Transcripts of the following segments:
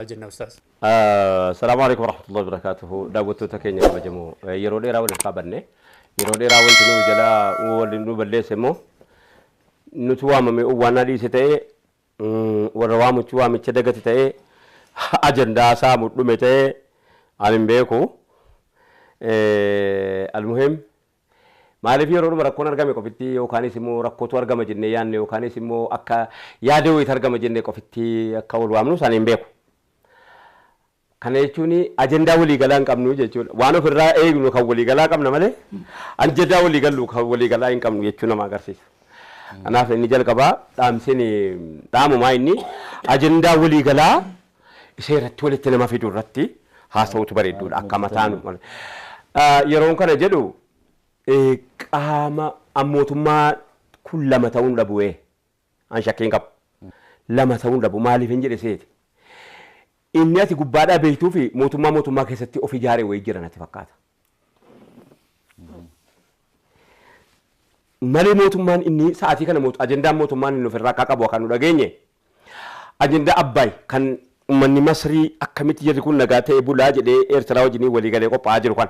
jenna ustaaz. Assalaamu Aleykum Warahmatullahi Wabarakatuhu Daawwattoota keenya kabajamoo yeroo dheeraa wal harkaa banne yeroo dheeraa wanti nu jala wal nu balleesse immoo nutu waamame waanaa dhiise ta'ee warra waamuchi waamicha dagate ta'ee ajandaa isaa mudhume ta'ee ani hin beeku almuhim Maaliif yeroodhuma rakkoon argame qofitti yookaanis immoo rakkootu argama jennee yaadne yookaanis immoo akka yaada wayiitu argama jennee qofitti akka wal waamnus ani hin beeku. Kana jechuun ajandaa waliigalaa hin qabnu jechuudha. Waan ofirraa eegnu kan waliigalaa qabna malee ajandaa waliigallu kan waliigalaa hin qabnu jechuu nama agarsiisa. Kanaaf inni jalqabaa dhaamseen dhaamumaa inni ajandaa waliigalaa Isa irratti walitti nama fidu irratti haasa'utu bareedduudha akka mataan yeroon kana jedhu qaama mootummaa kun lama ta'uun dhabu'ee an shakkiin qabu lama ta'uun dhabu maaliif hin jedhe seeti inni ati gubbaadhaa beektuu fi mootummaa mootummaa keessatti of ijaare wayii jira natti fakkaata. malee mootummaan inni sa'aatii kana mootu ajendaan mootummaan inni ofirraa akka qabu akka nu dhageenye ajendaa abbaay kan ummanni masrii akkamitti jirri kun nagaa ta'e bulaa jedhee eertiraa wajjinii walii galee qophaa'aa jiru kan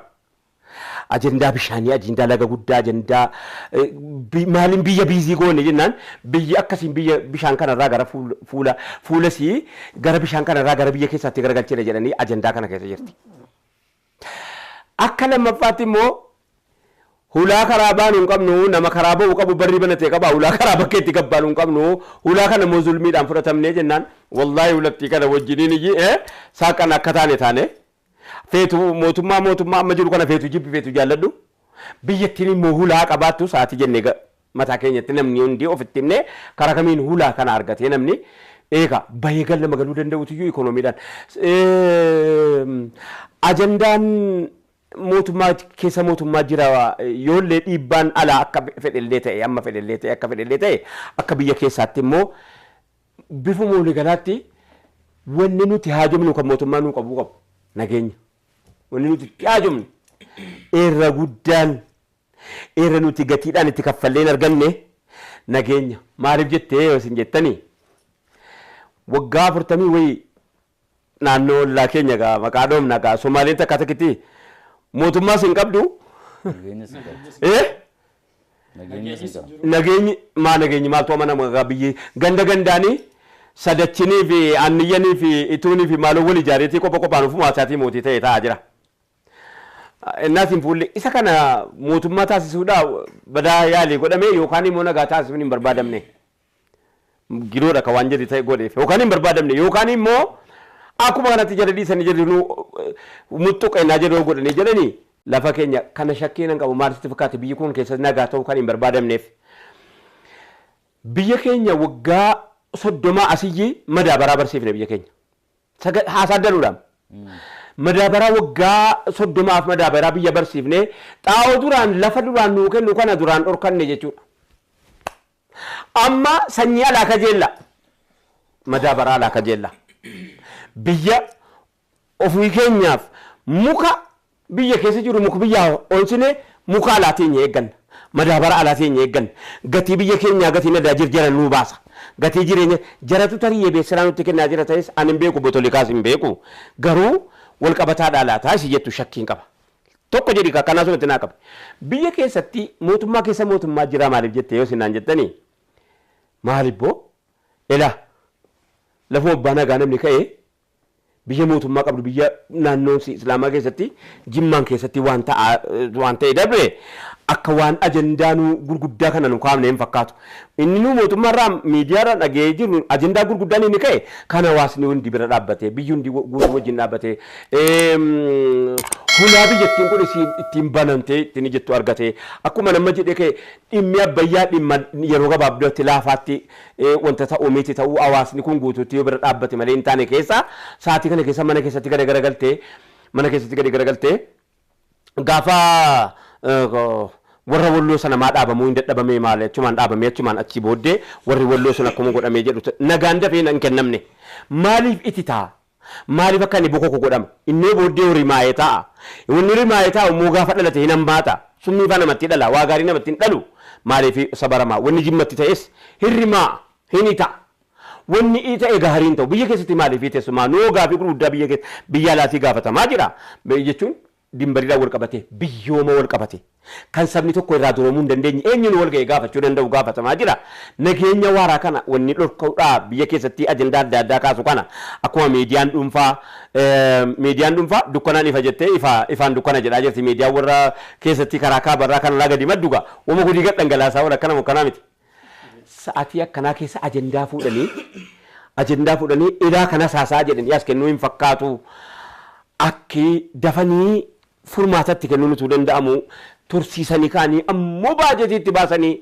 ajendaa bishaanii ajendaa laga guddaa ajendaa eh, bi- maaliin biyya biizii goone jennaan biyyi akkasiin biyya bishaan kanarraa gara fuul- fuula fuulasii gara bishaan kanarraa gara biyya keessaatti garagalchina jedhanii ajendaa kana keessa jirti. Akka lammaffaatti immoo hulaa karaa baanu hin qabnu, nama karaa ba'u qabu barri banate qaba, hulaa karaa bakka itti gad baanu hin qabnu, hulaa kana immoo zulmiidhaan fudhatamnee jennaan wallaahi hulattii kana wajjiniin iyyi ee saaqqan akka taane taane feetu mootummaa mootummaa amma jiru kana feetu jibbi feetu jaalladhu biyyattiin immoo hulaa qabaattu sa'aatii jennee Mataa keenyatti namni hundi ofitti himnee karaa kamiin hulaa kana argatee namni eegaa bahee gal nama galuu danda'uutiyyuu ikoonomiidhaan ajandaan mootummaa keessa mootummaa jira yoollee dhiibbaan alaa akka fedhellee ta'e amma fedhellee ta'e akka fedhellee ta'e akka biyya keessaatti immoo bifuma waliigalaatti wanni nuti haajomnu kan mootummaa nuu qabuu qabu nageenya wanni nuti itti haajomnu irra guddaan irra nuti gatiidhaan itti kaffallee hin arganne nageenya. Maaliif jettee yoo isin jettanii waggaa afurtamii wayii naannoo ollaa keenya gaa maqaa dhoomna gaa Somaaleen takka takkitti mootummaas hin qabdu. Nageenyas hin qabdu. Eh? Nageenyas hin qabdu. Nageenyi maa nageenyi maaltu amanama gaa biyyi ganda gandaanii sadachinii fi aanniyyanii fi ituunii fi maaloo wal ijaareetii qopha qophaan ofumaa isaatii mootii ta'e ta'aa jira. Ennaa siin fuullee isa kana mootummaa taasisuudhaa badaa yaalii godhamee yookaan immoo nagaa taasisuun hin barbaadamne. Gidoodha ka waan jedhi ta'e godheef yookaan hin barbaadamne yookaan immoo akkuma kanatti jala dhiisanii jedhinuu muxxuqa ennaa jedhoo godhanii jedhanii lafa keenya kana shakkii nan qabu maal sitti fakkaate biyyi kun keessatti nagaa ta'uu kan hin barbaadamneef. Biyya keenya waggaa soddomaa asiyyi madaabaraa barsiifne biyya keenya. Saga- haasaa danuudhaan. Madaabaraa waggaa soddomaaf madaabaraa biyya barsiifnee xaa'oo duraan lafa duraan nuu kennu kana duraan dhorkanne jechuudha. Amma sanyii alaa kajeella. Madaabaraa alaa kajeella. Biyya ofii keenyaaf muka Biyya keessa jirru muka biyyaa onsinee muka alaa teenya eegganna. Madaabara alaa teenya eegganna. Gatii biyya keenyaa gatii nadaajir jara nuu baasa. Gatii jireenya jaratu tarii yebeessiraa nutti kennaa jira ta'es ani hin beeku obbo Tolikaas hin beeku garuu wal qabataadhaa laataa isi jettu shakkiin qaba. Tokko jedhi ka akkanaa sunatti naa qabi. Biyya keessatti mootummaa keessa mootummaa jiraa maaliif jette yoo isin naan jettani maalibboo elaa lafuma abbaa nagaa namni ka'ee Biyya mootummaa qabdu biyya naannoon isii islaamaa keessatti jimmaan keessatti waan ta'aa waan ta'e dabre akka waan ajandaa nuu gurguddaa kana nu kaafne hin fakkaatu. Inni nuu mootummaa irraa miidiyaa irraa dhaga'ee jirru ajandaa gurguddaan inni ka'e kan hawaasni hundi bira dhaabbatee biyyi hundi guutuu wajjin dhaabbatee hulaa biyyattiin kun isiin ittiin banamtee ittiin jettu argatee akkuma nama jedhee ka'e dhimmi abbayyaa dhimma yeroo gabaabdatti laafaatti wanta ta'u miti ta'uu hawaasni kun guutuutti yoo bira dhaabbate malee hin taane keessa sa'aatii kana keessa mana keessatti gada garagalte mana keessatti gadi garagalte gaafa warra walloo sana maa dhaabamuu hin dadhabamee maali achumaan dhaabamee achumaan achii booddee warri walloo sun akkuma godhamee jedhu nagaan dafee hin kennamne maaliif itti ta'a Maaliif akka inni bokoku godhama. Innoo booddee hoo rimaaye ta'a. Wanni rimaaye taa'u immoo gaafa dhalate hin hammaata. Summii faa namatti dhala. Waa gaarii namatti hin dhalu. Maaliif sabarama. Wanni jimmatti ta'es hin rimaa'a. Hin ita'a. Wanni ita'e gaarii hin ta'u. Biyya keessatti maaliif teessumaa? Noo gaafii gurguddaa biyya keessa biyya alaatii gaafatamaa jira. Jechuun Dinbariidhaan wal qabatee, biyyooma wal qabatee, kan sabni tokko irraa duroomuu hin dandeenye, eenyuunu wal ga'ee gaafachuu danda'u gaafatamaa jira. Nageenya waaraa kana wanni dhorka'udhaa biyya keessattii ajandaa adda addaa kaasu kana akkuma miidiyaan dhuunfaa miidiyaan dhuunfaa dukkanaan ifa jettee ifa ifaan dukkana jedhaa jirti miidiyaan warra keessattii karaa kaaba irraa kan alaa gadi maddu gaa wama hudii gad dhangalaasaa oola akkanamo akkanaa miti. sa'atii akkanaa keessa ajandaa fuudhanii ajandaa fuudhanii ilaa kanas haasaa jedhanii as kennuu hin fakkaatu akki dafanii furmaatatti kennuun utuu danda'amu tursiisanii kaanii ammoo baajetii itti baasanii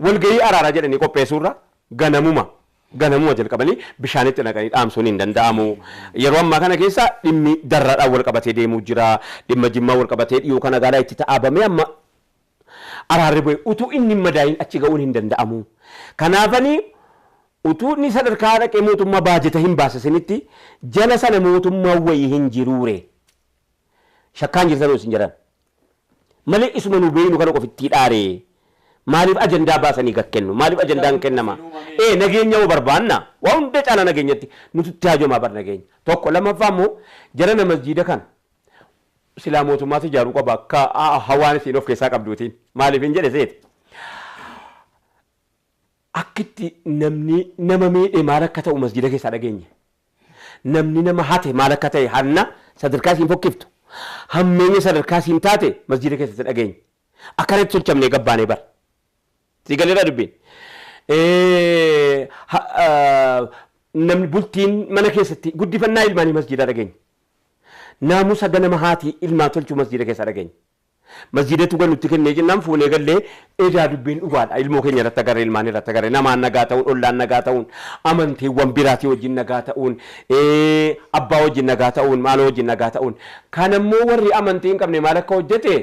walgahii araaraa jedhanii qopheessuurra ganamuma ganamuma jalqabanii bishaanitti naqanii dhaamsuun hin danda'amu. Yeroo ammaa kana keessa dhimmi darraadhaan wal qabatee deemuu jira. Dhimma jimmaa wal qabatee dhiyoo kana gaalaa itti ta'aabamee amma araarri bu'e utuu inni hin madaa'iin achi ga'uun hin danda'amu. Kanaafani utuu inni sadarkaa dhaqee mootummaa baajeta hin baasisinitti jala sana mootummaan wayii hin jiruure. Shakkaan jirtanoo isin jedhan. Malee isuma nu beeynu kana qofittii dhaare. Maaliif ajandaa baasanii gad kennu? Maaliif ajandaan kennama? Ee nageenya hoo barbaanna? Waa hunda caalaa nageenyatti nututti haajomaa bar nageenya. Tokko lammaffaa immoo jarana masjiida kana Silaa mootummaatu ijaaruu qaba akka hawaan isiin of keessaa qabduutiin. Maaliifin jedhe seete? Akka itti namni nama miidhe maal akka ta'u masjida keessaa dhageenye. Namni nama hate maal akka ta'e hanna sadarkaa isiin fokkiftu hammeenya sadarkaa isiin taate masjida keessatti dhageenye. Akkanatti tolchamnee gabbaanee bar. Sii galeeraa dubbiin. Namni bultiin mana keessatti guddifannaa ilmaanii masjidaa dhageenye. Naamusa ganama haati ilmaa tolchu masjiida keessaa dhageenye. Masjiidatu gad nutti kennee jennaan fuunee galle edaa dubbiin dhugaadha ilmoo keenya irratti agarre ilmaan irratti agarre namaan nagaa ta'uun ollaan nagaa ta'uun amantiiwwan biraatii wajjin nagaa ta'uun abbaa wajjin nagaa ta'uun maaloo wajjin nagaa ta'uun kan ammoo warri amantii hin qabne maal akka hojjete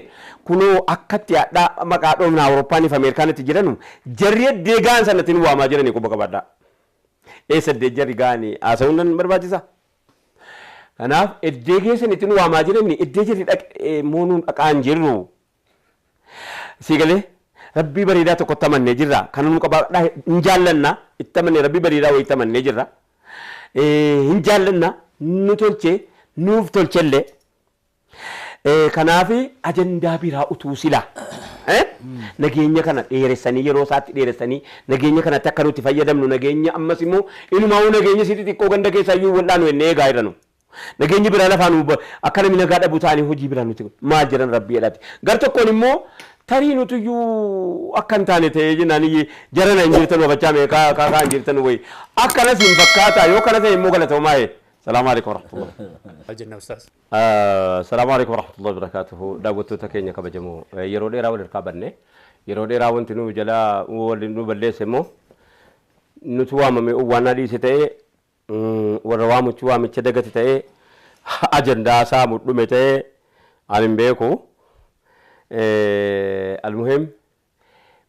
kunoo akkatti hadhaa maqaa dhoofna awuroppaaniif ameerikaanitti jiranu jarri eddee ga'an sanatti nu waamaa jiranii quba qabadhaa. Eessa eddee jarri ga'anii haasa'uun nan barbaachisa? Kanaaf eddee geessan ittiin waamaa jiranni eddee jirri dhaqee immoo nuun dhaqaa hin jirru. Sii galee rabbii bareedaa tokkotti amannee jirra. Kana nu qabaadhaa hin jaallanna itti amannee rabbii bareedaa wayiitti amannee jirra. Hin jaallanna nu tolchee nuuf tolchellee Kanaaf ajandaa biraa utuu silaa nageenya kana dheeressanii yeroo isaatti dheeressanii nageenya kanatti akka nuti fayyadamnu nageenya ammas immoo inumaa'uu nageenya isii xixiqqoo ganda keessaa iyyuu wal'aanu jennee eegaa irra nu. Nageenyi biraa lafaa nu akka namni nagaa dhabu taanii hojii biraa nuti maal jedhan rabbii jedhaati. Gar tokkoon immoo tarii nuti iyyuu akka hin taane ta'ee jennaan jarana hin jirtan wabachaa mee kaa kaa kaa hin jirtan wayi. Akkanas hin fakkaataa yoo kana ta'e immoo galatoomaa ee. Salaamu alaikum warahmatullahi. Maal jennaa ustaas? Assalaamu Aleykum Warahmatullahi Wabarakatuhu Daawwattoota keenya kabajamoo yeroo dheeraa wal harkaa badne yeroo dheeraa wanti nu jalaa wal nu balleesse immoo nutu waamame owwaannaa dhiise ta'ee warra waamuchi waamicha dagate ta'ee ajandaa isaa mudhume ta'ee ani hin beeku almuhim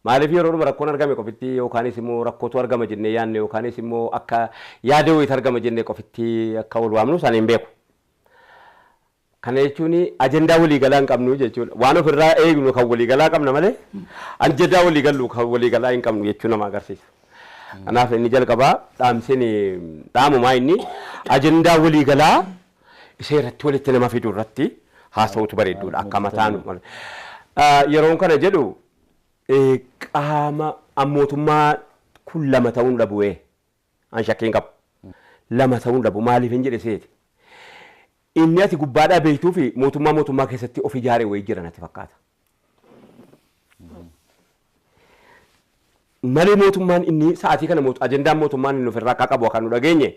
Maaliif yeroodhuma rakkoon argame qofitti yookaanis immoo rakkootu argama jennee yaadne yookaanis immoo akka yaada wayiitu argama jennee qofitti akka wal waamnus ani hin beeku. Kana jechuun ajandaa waliigalaa hin qabnu jechuudha. Waan ofirraa eegnu kan waliigalaa qabna malee ajandaa waliigallu kan waliigalaa hin qabnu jechuu nama agarsiisa. Kanaaf inni jalqabaa dhaamseen dhaamumaa inni ajandaa waliigalaa Isa irratti walitti nama fidu irratti haasa'utu bareedduudha akka mataan yeroon kana jedhu qaama mootummaa kun lama ta'uun dhabu'ee an shakkiin qabu. Lama ta'uun dhabu maaliif hin jedhe seeti. Inni ati gubbaadhaa beektuu fi mootummaa mootummaa keessatti of ijaare wayii jira natti fakkaata. Malee mootummaan inni sa'aatii kana mootu ajendaan mootummaan inni ofirraa akka qabu akka nu dhageenye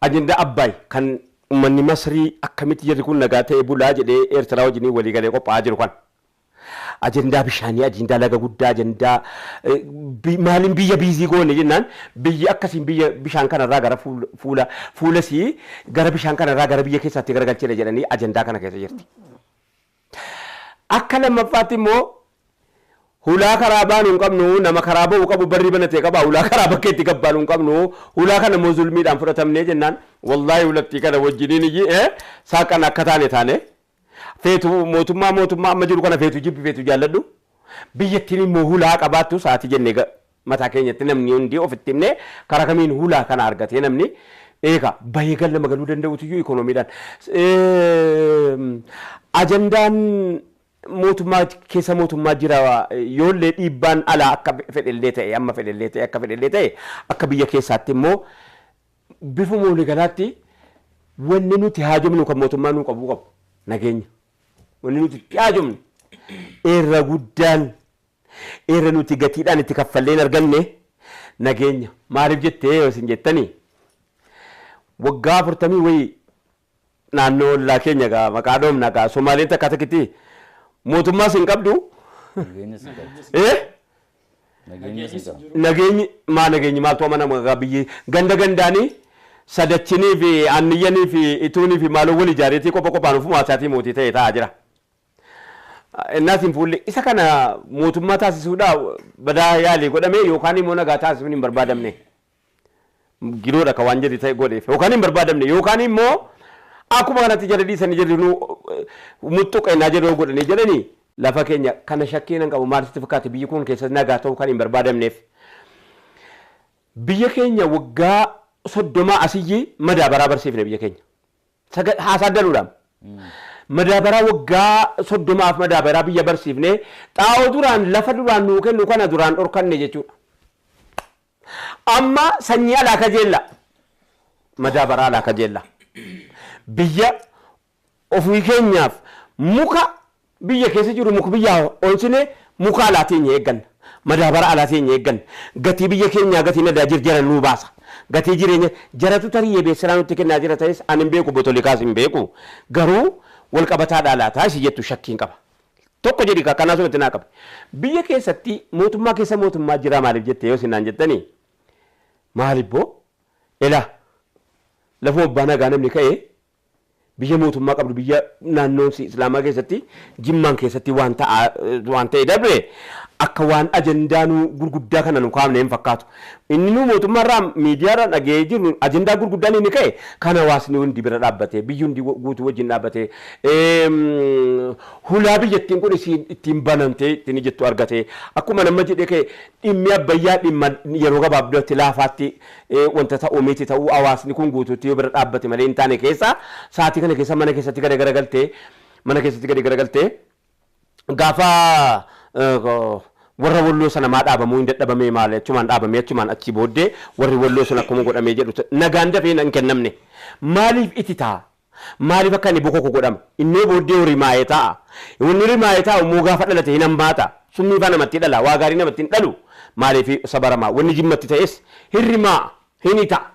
ajendaa Abbaay kan uummanni Masrii akkamitti jirri kun nagaa ta'ee bulaa jedhee Eertiraa wajjin walii galee qophaa'aa jiru kan ajendaa bishaanii ajendaa laga guddaa ajendaa eh, bi- maaliin biyya biizii goone jennaan biyyi akkasiin biyya bishaan kanarraa gara fuula fuula fuulasii gara bishaan kanarraa gara biyya keessaatti garagalchina jedhanii ajendaa kana keessa jirti. Akka lammaffaatti immoo hulaa karaa baanu hin qabnu, nama karaa ba'u qabu barri banate qaba, hulaa karaa bakka itti gad baanu hin qabnu, hulaa kana immoo zulmiidhaan fudhatamnee jennaan wallaahi hulattii kana wajjiniin iyyi ee saaqan akka taane taane feetu mootummaa mootummaa amma jiru kana feetu jibbi feetu jaalladhu biyyattiin immoo hulaa qabaattu sa'aatii jennee ga- Mataa keenyatti namni hundi ofitti himnee karaa kamiin hulaa kana argatee namni eega bahee gal nama galuu danda'utu iyyuu ikoonomiidhaan ajandaan mootummaa keessa mootummaa jira yoollee dhiibbaan alaa akka fedhellee ta'e amma fedhellee ta'e akka fedhellee ta'e akka biyya keessaatti immoo bifuma waligalaatti wanni nuti haajomnu kan mootummaa nuu qabuu qabu nageenya wanni nuti itti haajomnu irra guddaan Irra nuti gatiidhaan itti kaffallee hin arganne nageenya. Maaliif jettee yoo isin jettani waggaa afurtamii wayii naannoo ollaa keenya gaa maqaa dhoofna gaa Somaaleen takka takkitti mootummaas hin qabdu. Nageenyas hin qabdu. Eh? Nageenyas hin qabdu. Nageenyi maa nageenyi maaltu amanama gaa biyyi ganda gandaanii sadachinii fi aanniyyanii fi ituunii fi maaloo wal ijaareetii qopha qophaan ofumaa isaatii mootii ta'e ta'aa jira. Ennaas hin fuulle. Isa kana mootummaa taasisuudhaa badaa yaalii godhame yookaan immoo nagaa taasisuun hin barbaadamne. Gidoodha ka waan jedhi ta'e godheef yookaan hin barbaadamne yookaan immoo akkuma kanatti jala dhiisanii jedhu nu muxxuqa ennaa jedhoo godhanii jedhanii lafa keenya kana shakkii nan qabu maal sitti fakkaate biyyi kun keessatti nagaa ta'uu kan hin barbaadamneef. Biyya keenya waggaa soddomaa asiyyi madaabaraa barsiifne biyya keenya. Saga- haasaa galuudhaan. Madaabaraa waggaa soddomaaf madaabaraa biyya barsiifnee xaa'oo duraan lafa duraan nuu kennu kana duraan dhorkanne jechuudha. Amma sanyii alaa kajeella. Madaabaraa alaa kajeella. Biyya ofii keenyaaf muka Biyya keessa jirru muka biyyaa onsinee muka alaa teenya eegganna. Madaabara alaa teenya eegganna. Gatii biyya keenyaa gatii nadaajir jara nuu baasa. Gatii jireenya jaratu tarii yebee seraa nutti kennaa jira ta'es ani hin beeku obbo Tolikaas hin beeku garuu wal qabataadhaa laataa isi jettu shakkiin qaba. Tokko jedhi kaa kanaa sumatti naa qabi. Biyya keessatti mootummaa keessa mootummaa jiraa maaliif jette yoo isin naan jettani maalibboo elaa lafuma abbaa nagaa namni ka'ee Biyya mootummaa qabdu biyya naannoon si islaamaa keessatti jimmaan keessatti waan ta'aa waan ta'e dabre akka waan ajandaa nu gurguddaa kana nu kaafne hin fakkaatu. Inni nu mootummaa irraa miidiyaa irraa dhaga'ee jirru ajandaa gurguddaan inni ka'e kan hawaasni hundi bira dhaabbatee biyyi hundi guutuu wajjin dhaabbatee eem, hulaa biyyattiin kun isiin ittiin banamtee ittiin jettu argatee akkuma nama jedhee ka'e dhimmi abbayyaa dhimma yeroo gabaabdatti laafaatti wanta ta'u miti ta'uu hawaasni kun guutuutti yoo bira dhaabbate malee hin taane keessa sa'aatii kana keessa mana keessatti gada garagalte mana keessatti gadi garagalte gaafa warra walloo sana maa dhaabamuu hin dadhabamee maali achumaan dhaabamee achumaan achii booddee warri walloo sun akkuma godhamee jedhu nagaan dafee hin kennamne maaliif ititaa Maaliif akka inni bokoku godhama. Innoo booddee hoo rimaaye taa'a. Wanni rimaaye taa'u immoo gaafa dhalate hin hammaata. Summii faa namatti dhala. Waa gaarii namatti hin dhalu. Maaliif sabaramaa. Wanni jimmatti ta'es hin rimaa'a. Hin ita'a.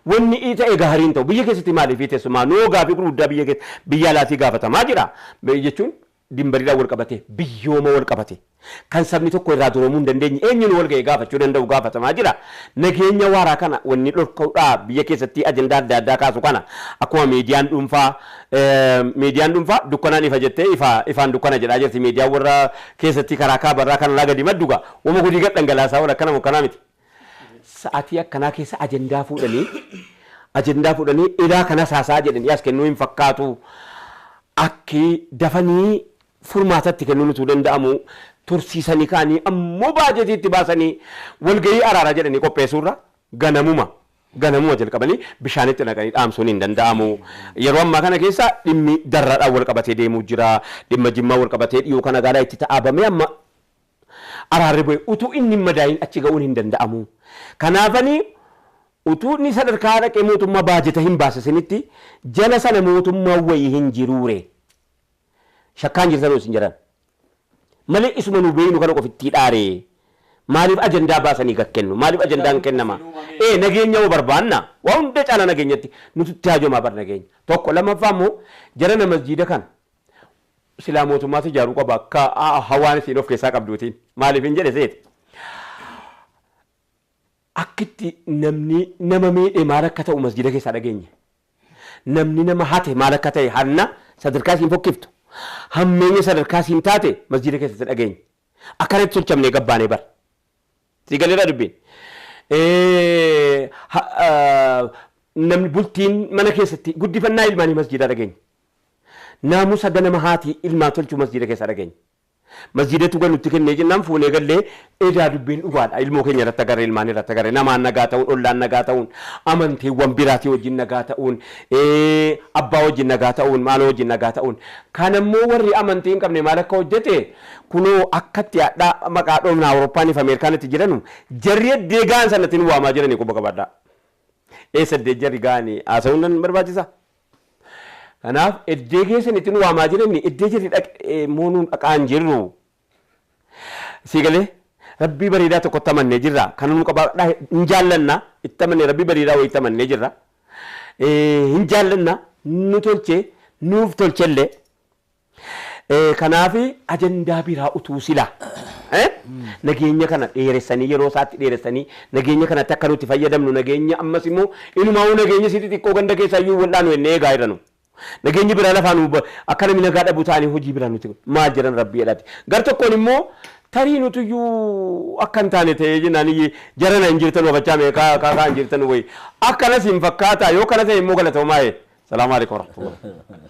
Wanni ita'e gaarii hin ta'u. Biyya keessatti maaliif iteessu? Maa noo gaafii gurguddaa biyya keessa biyya alaatii gaafatamaa jira. Jechuun dinbariidhaan wal qabatee, biyyooma wal qabatee, kan sabni tokko irraa duroomuu hin dandeenye eenyuunu wal ga'ee gaafachuu danda'u gaafatamaa jira. Nageenya waaraa kana wanni dhorka'udhaa biyya keessattii ajandaa adda addaa kaasu kana akkuma miidiyaan dhuunfaa miidiyaan dhuunfaa dukkanaan ifa jettee ifa ifaan dukkana jedhaa jirti miidiyaan warra keessattii karaa kaaba irraa kan alaa gadi maddu gaa wama gudii gad dhangalaasaa oola akkanamo akkanaa miti. sa'atii akkanaa keessa ajandaa fuudhanii ajandaa fuudhanii ilaa kanas haasaa jedhanii as kennuu hin fakkaatu akki dafanii furmaatatti kennuun utuu danda'amu tursiisanii kaanii ammoo baajetii itti baasanii walgahii araaraa jedhanii qopheessuurra ganamuma ganamuma jalqabanii bishaanitti naqanii dhaamsuun hin danda'amu. Yeroo ammaa kana keessa dhimmi darraadhaan wal qabatee deemuu jira. Dhimma jimmaa wal qabatee dhiyoo kana gaalaa itti ta'aabamee amma araarri bu'e utuu inni hin madaa'iin achi ga'uun hin danda'amu. Kanaafani utuu inni sadarkaa dhaqee mootummaa baajeta hin baasisinitti jala sana mootummaan wayii hin jiruure. Shakkaan jirtanoo isin jedhan. Malee isuma nu beeynu kana qofittii dhaare. Maaliif ajandaa baasanii gad kennu? Maaliif ajandaan kennama? Ee nageenya hoo barbaanna? Waa hunda caalaa nageenyatti nututti haajomaa bar nageenya. Tokko lammaffaa immoo jarana masjiida kana Silaa mootummaatu ijaaruu qaba akka hawaan isiin of keessaa qabduutiin. Maaliifin jedhe seete. Akkitti namni nama miidhe maal akka ta'u masjida keessaa dhageenye. Namni nama hate maal akka ta'e hanna sadarkaa isiin fokkiftu hammeenya sadarkaa isiin taate masjida keessatti dhageenye. Akkanatti tolchamnee gabbaanee bar. Sii galeeraa dubbiin? Namni bultiin mana keessatti guddifannaa ilmaanii masjiidaa dhageenya. Naamusa ganama haati ilmaa tolchuu masjiida keessaa dhageenya. Masjiidatu kan nutti kennee jennaan fuunee gallee edaa dubbiin dhugaadha. Ilmoo keenya irratti agarre ilmaan irratti agarre namaan nagaa ta'uun ollaan nagaa ta'uun amantiiwwan biraatii wajjin nagaa ta'uun abbaa wajjin nagaa ta'uun maaloo wajjin nagaa ta'uun kan ammoo warri amantii hin qabne maal akka hojjete Kunoo akkatti hadhaa maqaa dhomna Awuroppaanii fi Ameerikaanitti jiranu jarri eddee gahan sanatti nu waamaa jiranii quba qabadhaa. Eessa eddee jarri gahani haasawuun nan barbaachisa? Kanaaf eddee keessan itti nu waamaa jiranii eddee jarri dhaqe immoo nu dhaqaa hin jirru. Sii galee? Rabbii bareedaa tokkotti amannee jirra. Kana nu qabaadhaa hin jaallanna. Itti amannee rabbii bareedaa wayitti amannee jirra. Hin jaallanna nu tolchee nuuf tolchellee. Kanaaf ajandaa biraa utuu silaa nageenya kana dheeressanii yeroo isaatti dheeressanii nageenya kanatti akka nuti fayyadamnu nageenya ammas immoo inumaa'uu nageenya isii xixiqqoo ganda keessaa iyyuu wal'aanu jennee eegaa irra nu nageenyi biraa lafaa nu akka namni nagaa dhabu taanii hojii biraa nuti maal jedhan rabbii jedhaati gar tokkoon immoo tarii nuti iyyuu akka hin taane ta'ee jennaan jarana hin jirtan wafachaa meeqaa kaakaa hin jirtan wayi akkanas hin fakkaataa yoo kana ta'e immoo galatoomaa ee salaamu alaikum warahmatullahi